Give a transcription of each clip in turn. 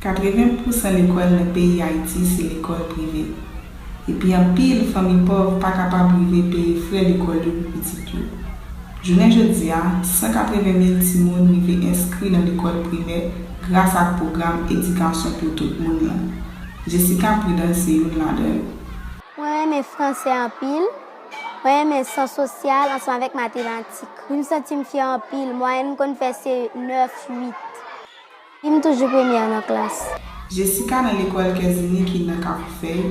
80 pousan lekòl nan peyi Ayiti se lekòl prive. Epi anpil fanmi pòv pa kapab rive peye frè lekòl yo pou pitit yo. Jounen jodi a, 180 mil timoun rive enskri nan lekòl primè gras ak pwogram Edikasyon pou tout moun lan. Jessica Prudence se youn ladan yo. Mwen renmen franse anpil. Mwen renmen syans sosyal ansanm avèk matematik. M santi m fyè anpil. Mwayèn m konn fè se 9, 8. Epi m toujou premyè nan klas. Jessica nan lekòl Kèzini ki nan Kafoufèy,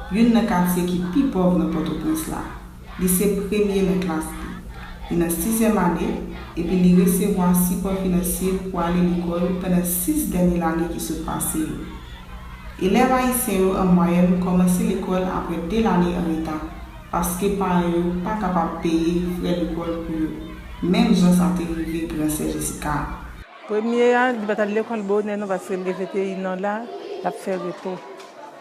youn nan katye ki pi pòv nan Pòtoprens la. Li se premye nan klas li. Li nan sizyèm ane, epi li resevwa sipò finansye pou ale lekòl pandan sis dènye lane ki sot pase yo. Elèv ayisyen yo an mwayèn kòmanse lekòl apre de lane an reta paske paran yo pa kapab peye frè lekòl pou yo, menm jan sa te rive gran sè Jessica a. Premye a, li pat al lekòl bonè non paske li leve te inè la, lap fè repo.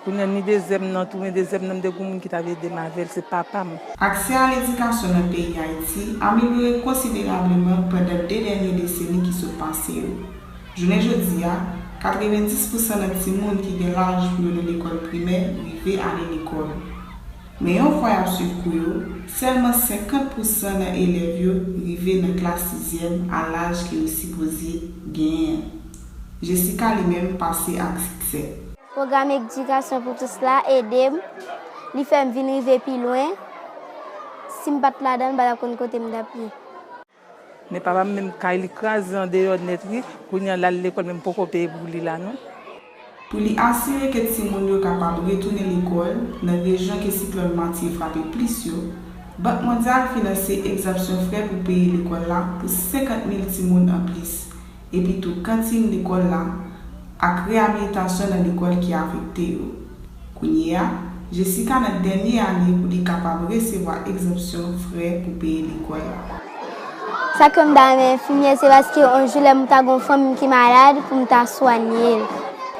Kounya ni dezyèm nan tou, men dezyèm nan m te gen yon moun ki t ap ede m avè l, se papa m. Aksè a ledikasyon nan peyi Ayiti amelyore konsiderableman pandan 2 dènye deseni ki sot pase yo. Jounen jodi a, 90 pousan nan timoun ki gen laj pou yo nan lekòl primè rive ale lekòl. Men yon fwa y ap suiv kou yo, sèlman 50 pou san nan elèv yo rive nan klas sizyèm a laj ke yo sipoze genyen an. Jessica li menm pase ak siksè. Pwogram Edikasyon pou Tous la ede m, li fè m vin rive pi lwen. Si m pa t ladan l m pa t ap konn kote m t ap ye. Men papam menm kay li kraze andeyò nèt wi kounya lal lekòl menm poko peye pou li la non. Pou li asire ke timoun yo kapab retounen lekòl nan rejyon ke siklòn Matye frape plis yo, Bank Mondyal finanse egzanpsyon frè pou peye lekòl la pou 50 mil timoun anplis epitou kantin lekòl la ak reyabilitasyon nan lekòl ki afekte yo. Kounye a, Jessica nan dènye ane pou li kapab resevwa egzanpsyon frè pou peye lekòl la. Sa ke m ta renmen enfimyè se paske yon jou lè m ta gen yon fanmi ki malad pou m ta swanye l.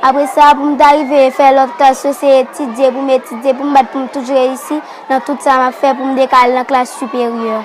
Apre sa, pou m ta rive fè lòt klas yo se etidye pou m etidye pou m bat pou m toujou reyisi nan tout sa m ap fè pou m te ka al nan klas siperyè.